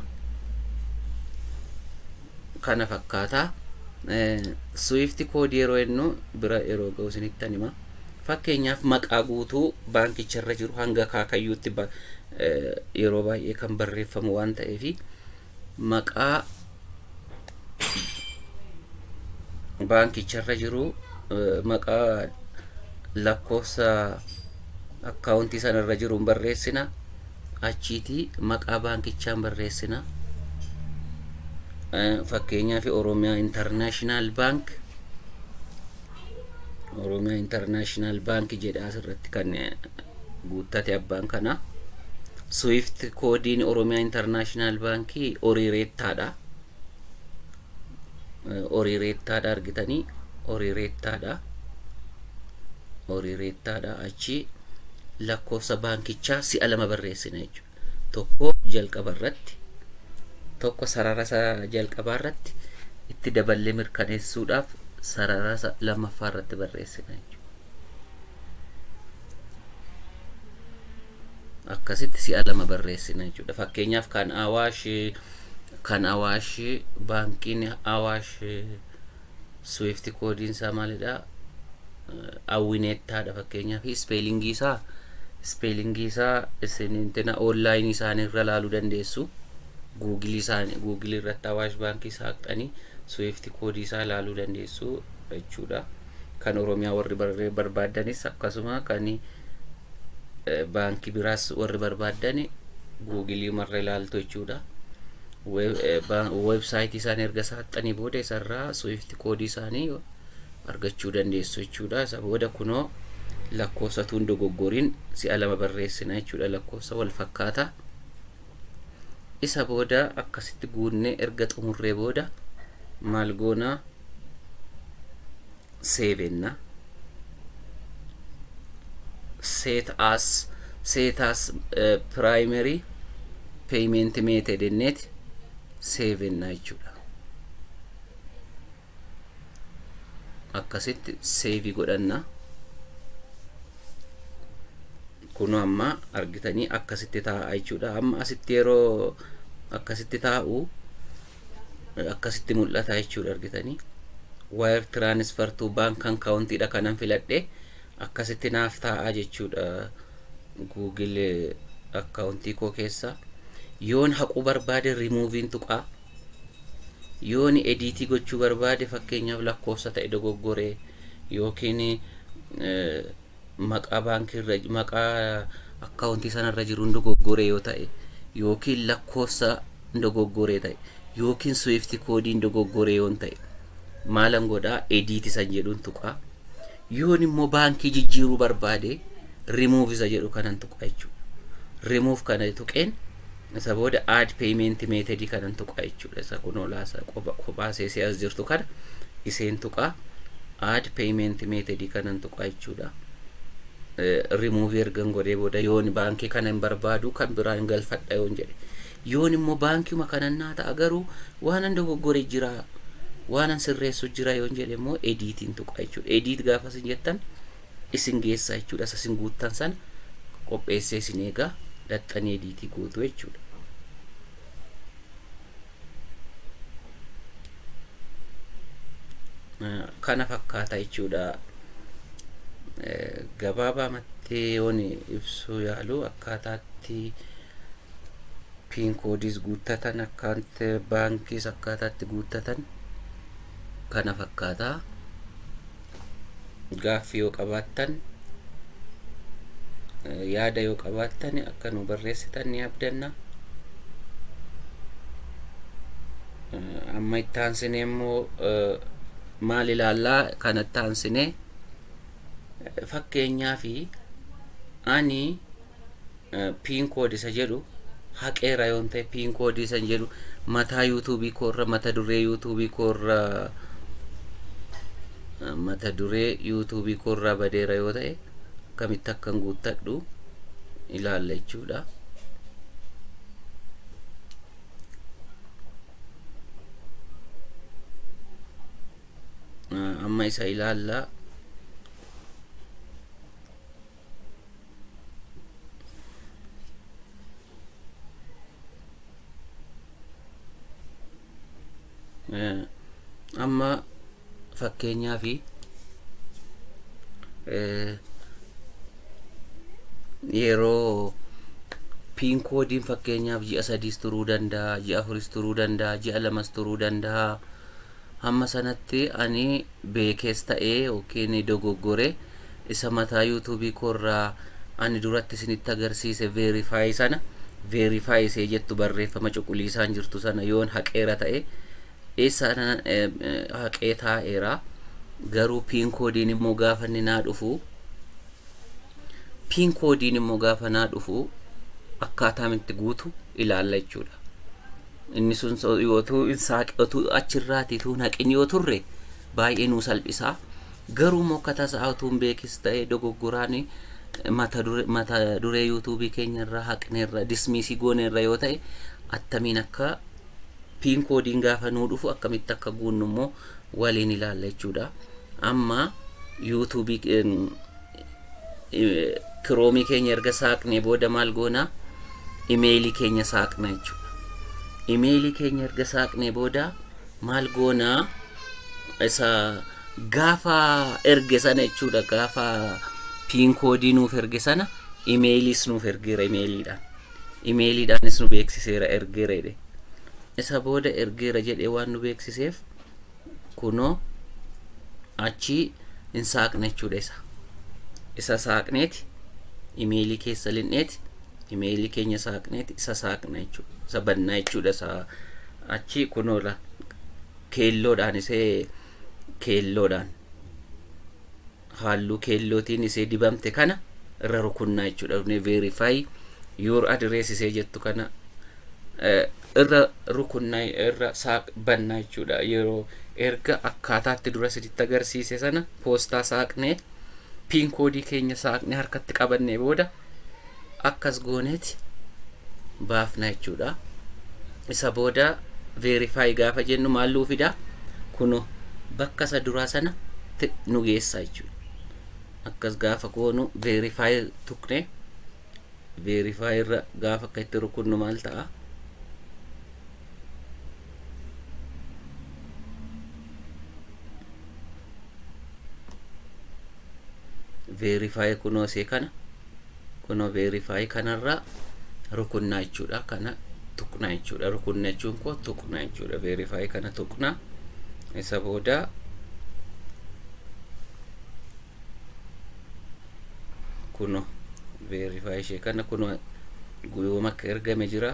kana fakkaata. Swift code yeroo jennu bira yeroo ga'u isinittan hima. Fakkeenyaaf maqaa guutuu baankicha irra jiru hanga akaakayyuutti ba- eh, yeroo baay'ee kan barreeffamu waan ta'eef maqaa baankicha irra jiru eh, maqaa lakkoofsa akkaawuntii sana irra jiru hin barreessina. achiiti maqaa baankichaan barreessina fakkeenyaaf oromiyaa intarnaashinaal baank oromiyaa intarnaashinaal baank jedhaa asirratti kan guuttate abbaan kana swift koodiin oromiyaa intarnaashinaal baankii oriireettaadha horii reettaadha argitanii horii reettaadha horii reettaadha achi lakkoofsa baankichaa si'a lama barreessina jechuudha tokko jalqaba irratti tokko sarara isa jalqabaa irratti itti daballee mirkaneessuudhaaf sarara isa lammaffaa irratti barreessina jechuudha. akkasitti si'a lama barreessina jechuudha. Fakkeenyaaf kan Awaash kan Awaash baankiin Awaash Swift koodiin isaa maalidha? Awwineettaadha fakkeenyaaf ispeelingii isaa ispeelingii isaa isin intina onlaayinii isaanii irra laaluu dandeessu. Guugilii isaanii guugilii irratti Awaash baankii saaqxanii Swift koodii isaa laaluu dandeessu jechuudha. kan oromiyaa warri barree barbaaddanis akkasuma kan eh, baankii biraas warri barbaaddan guugilii marra ilaaltu jechuudha. Web- eh, ba- Weebsaayitii isaanii erga saaxxanii booda isarraa swift koodii isaanii argachuu dandeessu jechuudha. Isa booda kunoo lakkoofsatuun dogoggoriin si'a lama barreessina jechuudha lakkoofsa wal fakkaataa. Isa booda akkasitti guunnee erga xumurree booda maal goona seevenna. Set as set as eh, primary payment method enneeti seevenna jechuudha. akkasitti seevi godhanna kunoo amma argitanii akkasitti taa'a jechuudha amma asitti yeroo akkasitti taa'u akkasitti mul'ata jechuudha argitanii wire transfer to bank account dha kanan filadhe akkasitti naaf taa'a jechuudha google akkaawuntii koo keessa yoon haquu barbaade rimuuviin tuqaa Yooni ediitii gochuu barbaade fakkeenyaaf lakkoofsa ta'e dogoggore yookiin maqaa baankii irra maqaa akkaawuntii sana irra jiruun dogoggore yoo ta'e yookiin lakkoofsa dogoggore ta'e yookiin swift koodiin dogoggore yoo ta'e maalan godhaa ediitii san jedhuun tuqaa yoon immoo baankii jijjiiruu barbaade remove isa jedhu kanan tuqaa jechuudha remove kana tuqeen Isa booda add payment method kanan tuqaa jechuudha. Isa kun olaasa kophaa seesee as jirtu kana iseen tuqaa add payment method kanan tuqaa jechuudha. Remove ergan godhee booda yoon baankii kana hin barbaadu kan biraa hin galfadha yoon jedhe. Yoon immoo baankiuma kanan naa ta'a garuu waanan dogoggore jira waanan sirreessu jira yoon jedhe immoo ediitiin tuqaa jechuudha. Ediit gaafa isin jettan isin geessa jechuudha. Isa isin guuttan sana qopheessee isin eegaa dhaxxanii ediitii gootu jechuudha. Kana fakkaata jechuudha. Gabaabaa matteeyoon ibsuu yaalu akkaataatti piinkoodiis guuttatan akkaanti baankiis akkaataatti guuttatan kana fakkaata. gaaffii yoo qabaattan yaada yoo qabaattan akka nu barreessitan ni abdanna. Amma itti aansinee immoo maal ilaallaa kan itti aansinee fakkeenyaa fi ani piin koodi isa jedhu haqeera yoon ta'e piin koodii isa jedhu mataa yuutuubii koorra mata duree yuutuubii koorra mata duree yuutuubii koorraa badeera yoo ta'e akkamitti akkan guuttadhu ilaalla jechuudha. amma isa ilaalla amma fakkeenyaa fi yeroo piin koodiin fakkeenyaaf ji'a sadiis turuu danda'a ji'a afuris turuu danda'a ji'a lamas turuu danda'a hamma sanatti ani beekees ta'ee ykn dogoggore isa mataa youtube koo irraa ani duratti isinitti agarsiise verify sana verify isee jettu barreeffama cuquliisaan jirtu sana yoon haqeera ta'e eessa ana haqee taa'eera garuu piin koodiin immoo gaafa inni naa dhufu piin koodiin immoo gaafa naa dhufu akkaataa itti guutu ilaalla jechuudha. Inni sun otuu hin saaqe otuu achirraati utuu hin haqin yoo turre baay'ee nuu salphisa. Garuu immoo akka tasaa utuu hin beekis ta'e dogoggoraan mata dure- mata duree yuutuubii keenya irraa haqneerra dismiisii gooneerra yoo ta'e attamiin akka piin koodiin gaafa nuu dhufu akkamitti akka guunnu immoo waliin ilaalla jechuudha. Amma yuutuubii Kiroomii keenya erga saaqnee booda maal goona? Imeelii keenya saaqna jechuudha. Imeelii keenya erga saaqnee booda maal goona? Isa gaafa erge sana jechuudha gaafa piin koodii nuuf erge sana imeeliis nuuf ergeera imeeliidhaan. Imeeliidhaanis nu beeksiseera ergeera jedhe. Isa booda ergeera jedhee waan nu beeksiseef kunoo achii hin saaqne jechuudha isa isa saaqneeti imeelii keessa linneeti imeelii keenya saaqneeti isa saaqna jechuudha isa bannaa jechuudha isa achii kunoo la keelloodhaan isee keelloodhaan haalluu keellootiin isee dibamte kana irra rukunnaa jechuudha dhufnee verify your address isee jettu kana irra rukunnaa irra saaq bannaa jechuudha yeroo erga akkaataatti dura siditti agarsiise sana poostaa saaqnee piin koodii keenya saaqnee harkatti qabannee booda akkas gooneeti baafna jechuudha isa booda verify gaafa jennu maal nuu fida kuno bakka isa duraa sana nu geessa jechuudha akkas gaafa goonu verify tuqne verify irra gaafa akka itti rukunnu maal ta'a veerifaayi kunoo see kana kunoo veerifaayi kanarraa rukunnaa jechuudha kana tuqnaa jechuudha rukunna jechuun koo tuqnaa jechuudha veerifaayi kana tuqnaa isa boodaa kuno verify ishee kana kuno guyyooma akka ergame jira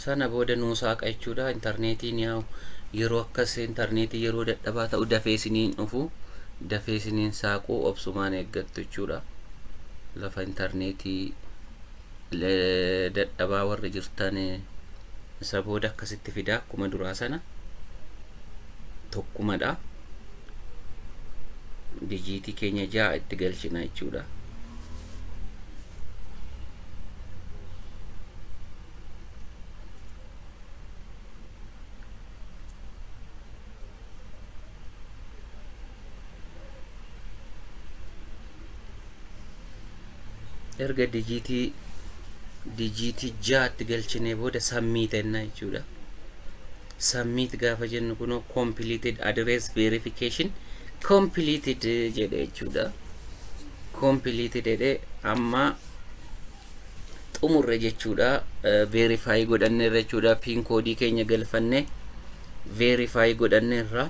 sana booda nuu saaqa jechuudha intarneetiin yaa'u yeroo akkas intarneetii yeroo dadhabaa ta'u dafee isiniin dhufu dafee isiniin saaquu obsumaan eeggattu jechuudha lafa intarneetii dadhabaa warri jirtan isa booda akkasitti fidaa akkuma duraa sana tokkumadha dijiitii keenya ja'a itti galchina jechuudha erga dijiitii dijiitii jaatti galchinee booda sammii tenna jechuudha. Sammiit gaafa jennu kunoo completed address verification completed jedhe jechuudha. Completed jedhe amma xumurre jechuudha verify godhanneerra jechuudha pin koodii keenya galfanne verify godhanneerra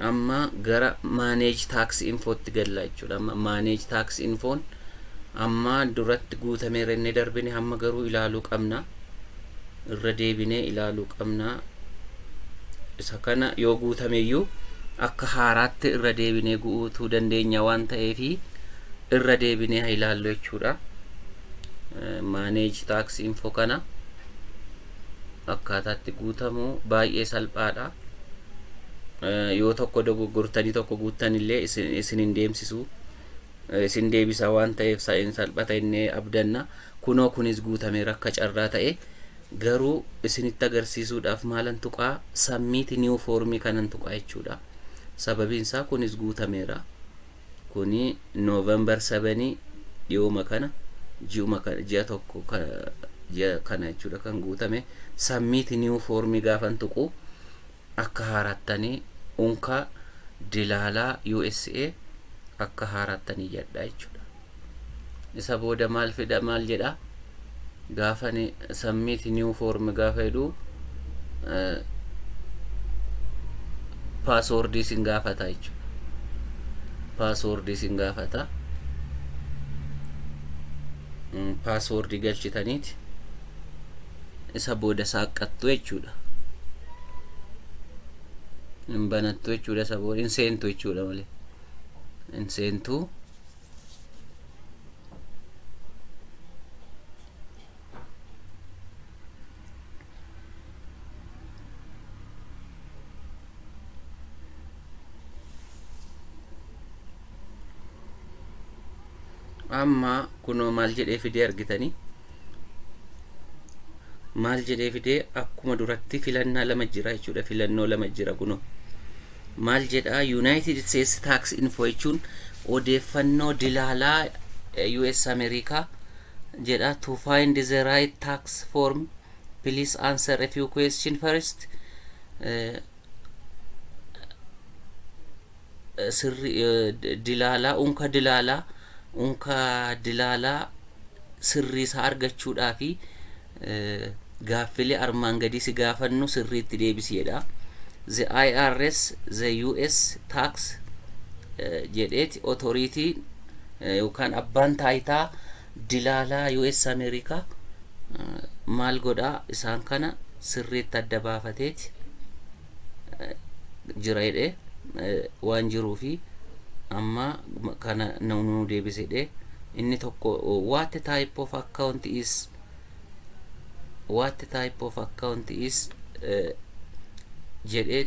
amma gara manage tax infootti galla jechuudha amma manage tax infoon amma duratti guutameera inni darbine amma garuu ilaaluu qabna irra deebinee ilaaluu qabna isa kana yoo guutameyyuu akka haaraatti irra deebinee guutuu dandeenya waan ta'eef irra deebinee haa ilaallu jechuudha maaneeji taaksii info kana akkaataatti guutamu baay'ee salphaadha yoo tokko dogoggortanii tokko guuttan illee isin hin deemsisu isin deebisa waan ta'eef sa'in salphata innee abdanna Kunoo kunis guutameera akka carraa ta'ee garuu isinitti agarsiisuudhaaf maalan tuqaa submit new form kanan tuqaa jechuudha. Sababiin isaa kunis guutameera. Kuni November 7 dhiyooma kana ji'uma kana ji'a tokko ji'a kana jechuudha kan guutame submit new form gaafan tuqu Akka haarattani unka dilaalaa usa akka haarattani iyyadha jechuudha. Isa booda maal fidha maal jedha gaafani submit new form gaafa jedhu paaswoordii isin gaafata jechuudha. Paaswoordii isin gaafata. Paaswoordii galchitaniiti. isa booda saaqqattu jechuudha. Hin banattu jechuudha isa booda hin seentu jechuudha malee. Hin seentu. amma kunoo maal jedhee fidee argitanii maal jedhee fidee akkuma duratti filannaa lama jira jechuudha filannoo lama jira kunoo maal jedha yuunaayitid isteetsi taaks info jechuun odeeffannoo dilaalaa us ameerikaa jedha to find the right tax form Please answer a few question first. Eh, eh, sirri eh, d- dilaalaa unka dilaalaa unka dilaalaa sirrii isaa argachuudhaa fi eh, gaaffilee armaan gadii si gaafannu sirriitti deebisiidha. The IRS, the US tax eh, jedheeti authority eh, yookaan abbaan taayitaa Dilaalaa US Ameerikaa maal godhaa isaan kana sirriitti adda baafateeti jira jedhee waan jiruu fi amma kana nu deebise jedhee inni tokko what type of account is what type of account is jedhee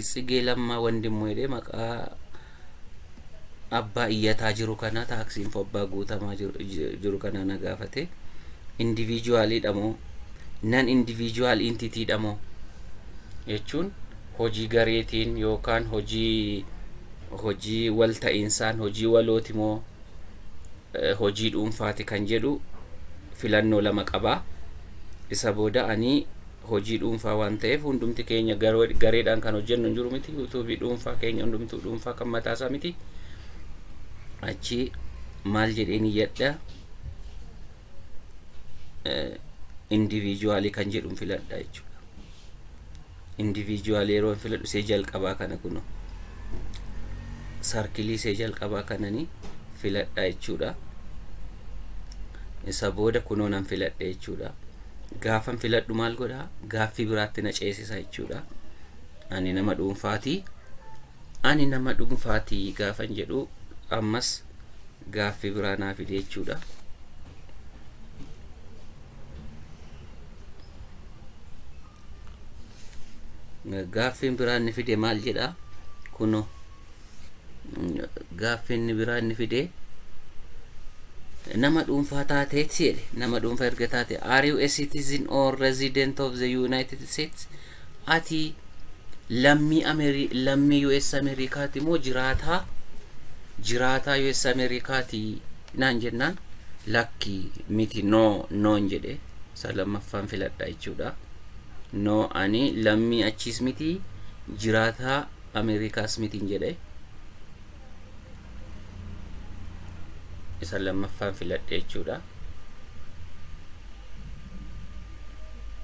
tsigee lammaa wandimmu jedhee maqaa abbaa iyyataa jiru kana tax info abbaa guutamaa jiru- ji- jiru kana na gaafate individual dha moo nan individual entity dha moo jechuun hojii gareetiin yookaan hojii hojii wal ta'insaan hojii walooti moo eh, hojii dhuunfaati kan jedhu filannoo lama qaba isa booda ani hojii dhuunfaa waan ta'eef hundumti keenya gareedhaan kan hojjennu hin jiru miti yuutuubii dhuunfaa keenya hundumtuu dhuunfaa kan mataasaa miti achi maal jedheen iyyadha indiviijuwaalii kan jedhu filadha jechuudha indiviijuwaalii yeroo hin filadhu see jalqabaa kana kuno sarkilii see jalqabaa kananii filadha jechuudha isa booda kunoo nan filadha jechuudha gaafan filadhu maal godha gaaffii biraatti na ceesisa jechuudha. Ani nama dhuunfaati. Ani nama dhuunfaati gaafan jedhu ammas gaaffii biraa naa fide jechuudha. Gaaffiin biraa inni fide maal jedha? Kunoo. Gaaffii inni biraa inni fidee nama dhuunfaa taateetti jedhe nama dhuunfaa erga taate are you a citizen or resident of the United States ati lammii Ameri lammii US Ameerikaati moo jiraataa jiraataa US Ameerikaati naan jennaan lakki miti no noon jedhe isa lammaffaan filadha jechuudha no ani lammii achiis miti jiraataa Ameerikaa Smitiin jedhe isa lammaffaan filadhe jechuudha.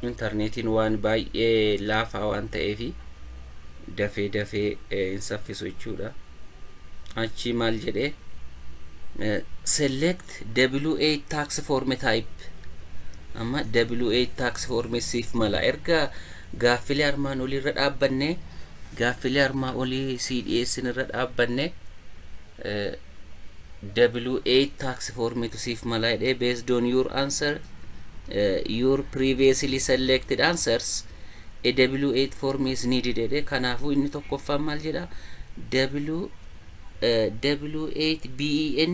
Intarneetiin waan baay'ee laafaa waan ta'eef dafee dafee hin saffisu jechuudha. Achii maal jedhee select W8 tax form type amma W8 tax form siif mala erga Gaaffilee armaan olii irra dhaabbanne gaaffilee armaa olii sii dhiyeessin irra dhaabbanne W8 tax formitu siif malaa jedhee based on your answer uh, your previously selected answers a W8 form is needed jedhee kanaafuu inni tokkoffaan maal jedha W uh, W8 BEN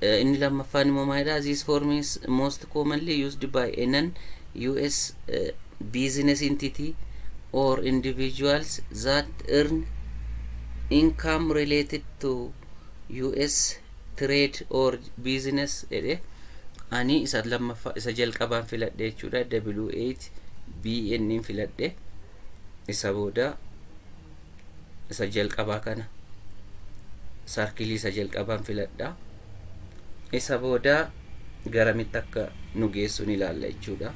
eh, inni lammaffaan immoo maalidha this form is most commonly used by a non US eh, business entity or individuals that earn income related to US trade or business jedhe ani isa lammaffaa isa jalqabaan filadhe jechuudha W8 BN filadhe isa booda isa jalqabaa kana sarkilii isa jalqabaan filadha isa booda garamitti akka nu geessuun ilaalla jechuudha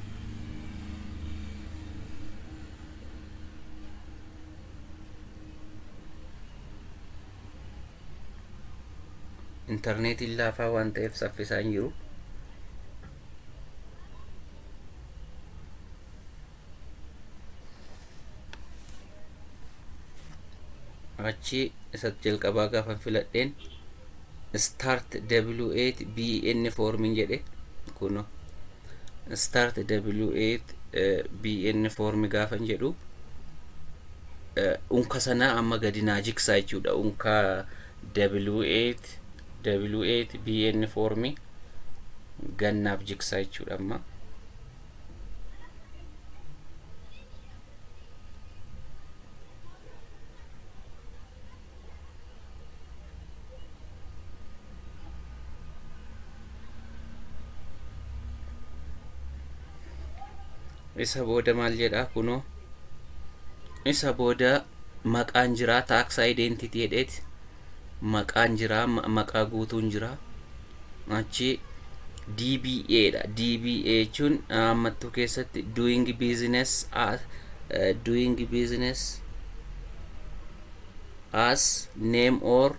intarneetiin laafaa waan ta'eef saffisaa hin jiru achi isa jalqabaa gaafan filadheen start w8 bn formin jedhe kuno start w8 bn formi gaafan jedhu unka sanaa amma gadi naa jigsaa jechuudha unka w8 w8 bn formi gannaaf jigsaa jechuudha amma isa booda maal jedha kunoo isa booda maqaan jira taaksaa identity jedheeti maqaan jira maqaa guutuun jira achi DBA dha DBA jechuun ammattuu keessatti doing business as uh, doing business as name or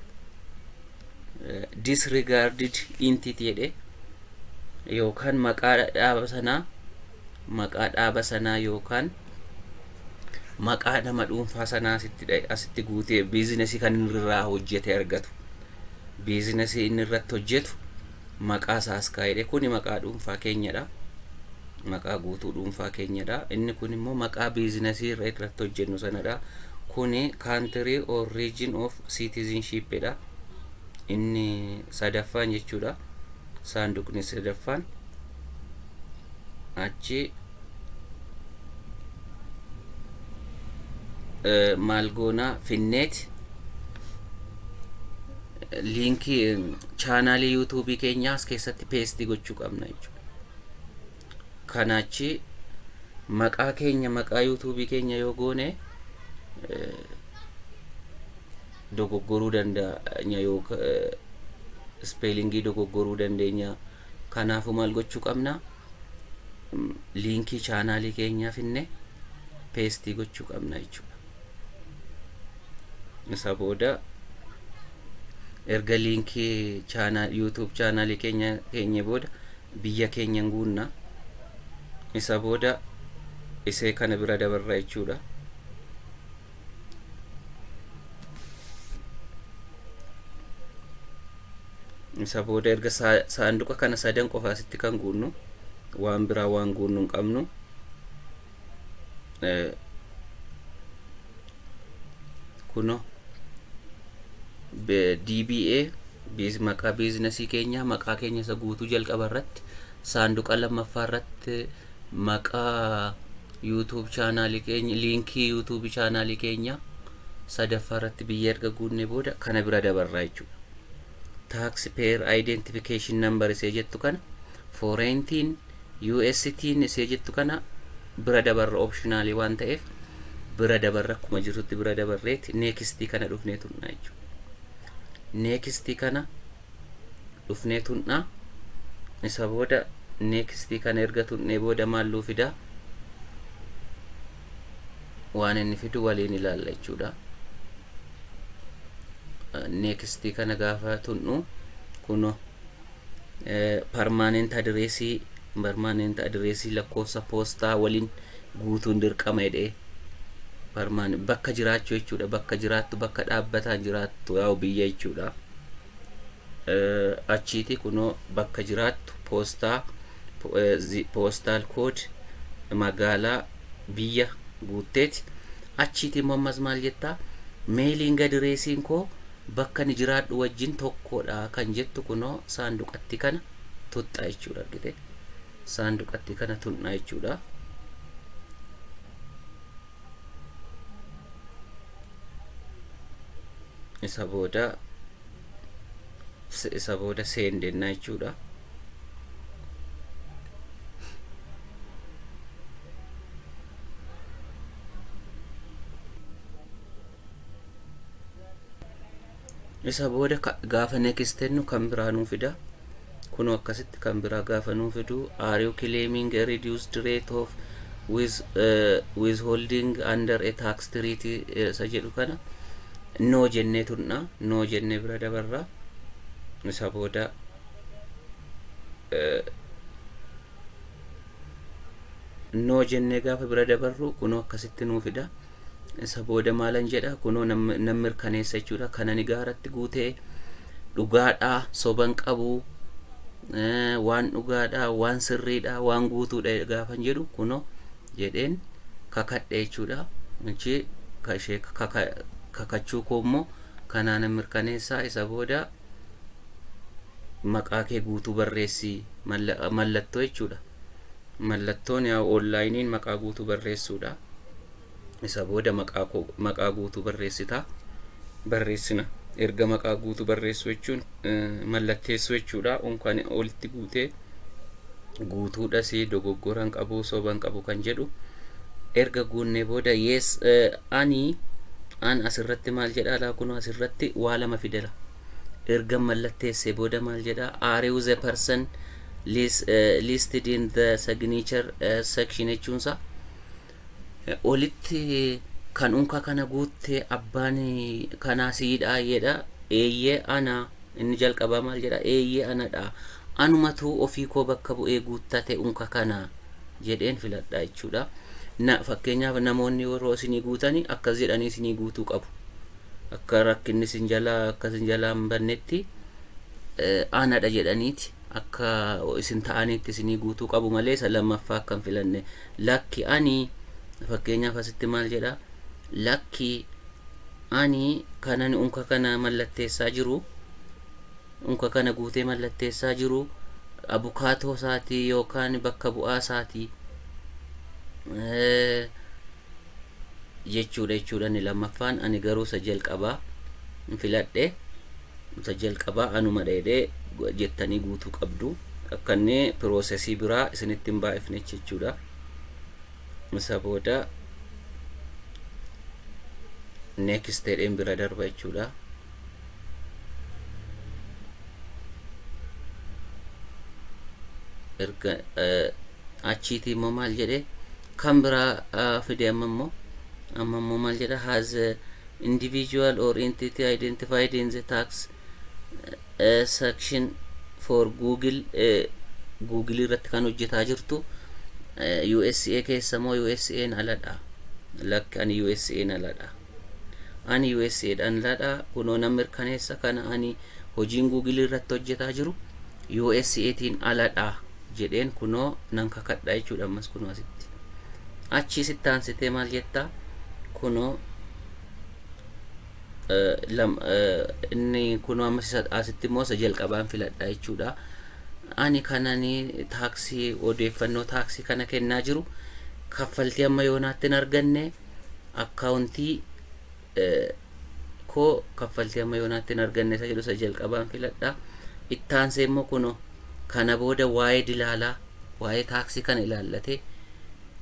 uh, disregarded entity jedhe yookaan maqaa dhaaba sanaa maqaa dhaaba sanaa yookaan maqaa nama dhuunfaa sanaa asitti dha- asitti guutee biizinasii kan inni irraa hojjete argatu. Biizinasii inni irratti hojjetu maqaa isaa as kaa'edha. Kuni maqaa dhuunfaa keenyadha. Maqaa guutuu dhuunfaa keenyadha. Inni kun immoo maqaa biizinasii irra irratti hojjennu sanadha. Kuni country or region of citizenship dha. Inni sadaffaan jechuudha. Saanduqni sadaffaan. achi maal goonaa finneet liinkii chaanaalii yuutuubii keenyaas keessatti peestii gochuu qabna jechuudha. Kana achi maqaa keenya maqaa yuutuubii keenya yoo goone dogoggoruu danda'a yookaan ispeelingii dogoggoruu dandeenya. Kanaafuu maal gochuu qabna? Liinkii chaanaalii keenyaa finne peestii gochuu qabna jechuudha. Isa booda erga liinkii chaanaa YouTube chaanaalii keenya keenye booda biyya keenya hin guunna. Isa booda isee kana bira dabarra jechuudha. isa booda erga saanduqa kana sadan qofa asitti kan guunnu waan biraa waan guunnu hin qabnu kuno DBA biiz maqaa biiznasii keenya maqaa keenya isa guutuu jalqaba irratti saanduqa lammaffaa irratti maqaa YouTube channel keenya liinkii YouTube channel keenya sadaffaa irratti biyya erga guunnee booda kana bira dabarraa jechuudha. Tax payer identification number isee jettu kana foreign tin US tin isee jettu kana bira dabarra optionaalii waan ta'eef bira dabarra akkuma jirtutti bira dabarreeti neekistii kana dhufnee tunnaa jechuudha. Neekistii kana dhufnee tunna isa booda next kana erga tunnee booda maal nuu fida waan inni fidu waliin ilaalla jechuudha next kana gaafa tunnu kuno permanent addressii permanent addressii lakkoofsa poostaa waliin guutuun dirqama jedhee barmaan bakka jiraachuu jechuudha bakka jiraattu bakka dhaabbataan jiraattu yaa'u biyya jechuudha achiiti kunoo bakka jiraattu poostaa poostaal kood magaalaa biyya guutteeti achiiti immoo ammas maal jettaa meeliin gadireesiin koo bakka ni jiraadhu wajjin tokkodha kan jettu kunoo saanduqatti kana tuxxa jechuudha argite saanduqatti kana tuqna jechuudha. isa booda isa booda seendenna jechuudha. Isa booda gaafa next tennu kan biraa nuu fida. Kunoo akkasitti kan biraa gaafa nuu fidu are you claiming a reduced rate of with, uh, withholding under a tax treaty eh, isa jedhu kana noo jennee tunna noo jennee bira dabarra isa booda eh, noo jennee gaafa bira dabarru kunoo akkasitti nuu fida. Isa booda maalan jedha kunoo nan mirkaneessa jechuudha kanani gaaratti guute dhugaadha soban qabu waan dhugaadha waan sirriidha waan guutuudha gaafan jedhu kunoo jedheen kakadhe jechuudha achi kashee kakachuu koo immoo kanaan mirkaneessaa isa booda maqaa kee guutuu barreessi mallattoo jechuudha. Mallattoon yaa'u onlaayiniin maqaa guutuu barreessuudha. Isa booda maqaa koo maqaa guutuu barreessita. Barreessina. Erga maqaa guutuu barreessuu jechuun eh, mallatteessuu jechuudha. Unkaan olitti guutee guutuudhas dogoggoran qabu soban qabu kan jedhu erga guunnee booda yes eh, ani an asirratti maal jedha laa kunoo asirratti waa lama fidera. ergan mallatteessee booda maal jedha are you the person lis- eh, listed in the signature eh, section jechuunsa olitti kan unka kana guutte abbaan kanaa siidha jedha eeyyee ana inni jalqabaa maal jedha eeyyee anadha anumatu ofii koo bakka bu'ee guuttate unka kana jedheen filadha jechuudha na fakkeenyaaf namoonni yeroo isinii guutanii akkas jedhanii isinii guutuu qabu akka rakkinni sin jalaa akka sin jalaa hin bannetti aanadha jedhaniiti akka isin ta'aniitti isinii guutuu qabu malee isa lammaffaa akka hin filanne lakki ani fakkeenyaaf asitti maal jedha lakki ani kanan unka kana mallatteessaa jiru unka kana guutee mallatteessaa jiru abukaatoo isaatii yookaan bakka bu'aa isaatii jechuudha jechuudha inni lammaffaan ani garuu isa jalqabaa hin filadhe isa jalqabaa anuma dheedhee jettanii guutuu qabdu akka inni piroosesii biraa isinitti hin baay'ifne jechuudha isa booda next jedheen bira darba jechuudha erga achiitii immoo maal jedhee Kan biraa fide amma immoo amma immoo maal jedha has a individual or entity identified in the tax eh, section for google eh, google irratti kan hojjetaa jirtu eh, usa keessa moo usa'n aladha lakki ani usa'n aladha Ani USA dhan ladha kunoo nan mirkaneessa kana ani hojiin Google irratti hojjetaa jiru USA tiin aladha jedheen kunoo nan kakadha jechuudha ammas kunoo asitti achii sitti aansitee maal jettaa kunoo inni kunoo ammas asitti immoo isa jalqabaan filadha jechuudha ani kanani taaksii odeeffannoo taaksii kana kennaa jiru kaffaltii amma yoonaatti hin arganne akkaawuntii koo kaffaltii amma yoonaatti hin arganne isa jedhu isa jalqabaan filadha. Itti aansee immoo kunoo kana booda waa'ee dilaalaa waa'ee taaksii kana ilaallatee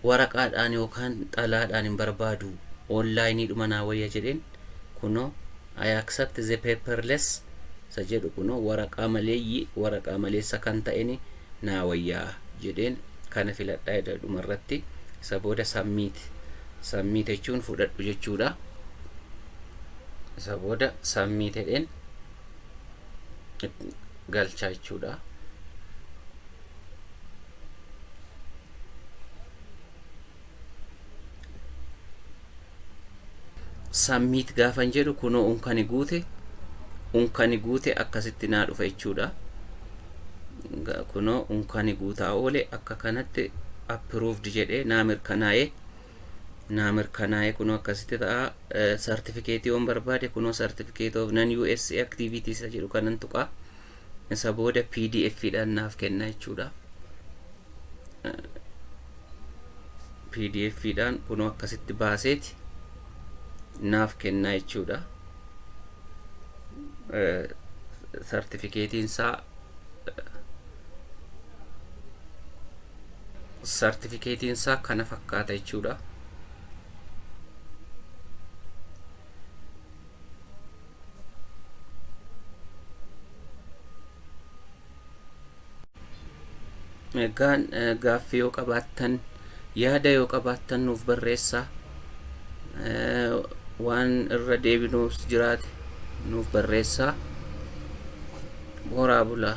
waraqaadhaan yookaan xalaadhaan hin barbaadu onlaayinii dhuma naa wayya jedheen kunoo I accept the paperless isa jedhu kunoo waraqaa maleeyyi waraqaa maleessa kan ta'eni naa wayya jedheen kana filadha jedha dhumarratti isa booda submit submit jechuun fudhadhu jechuudha isa booda submit jedheen galchaa jechuudha Submit gaafan jedhu kunoo unkani guute unkani guute akkasitti naa dhufa jechuudha. Ga- Kunoo unkani guutaa oole akka kanatti approved jedhee naa mirkanaa'ee naa mirkanaa'ee kunoo akkasitti ta'a. Sartifikeetii yoon barbaade kunoo sartifikeet of nan US activities jedhu kanan tuqaa. Isa booda pdf dhaan naaf kenna jechuudha. pdf dhaan kunoo akkasitti baaseeti naaf kenna jechuudha. Sartifikeetiin isaa sartifikeetiin isaa kana fakkaata jechuudha. Egaa eh, gaaffii yoo qabaattan yaada yoo qabaattan nuuf barreessaa Eh, waan irra deebinuus jiraate nuuf barreessaa. Horaa bulaa.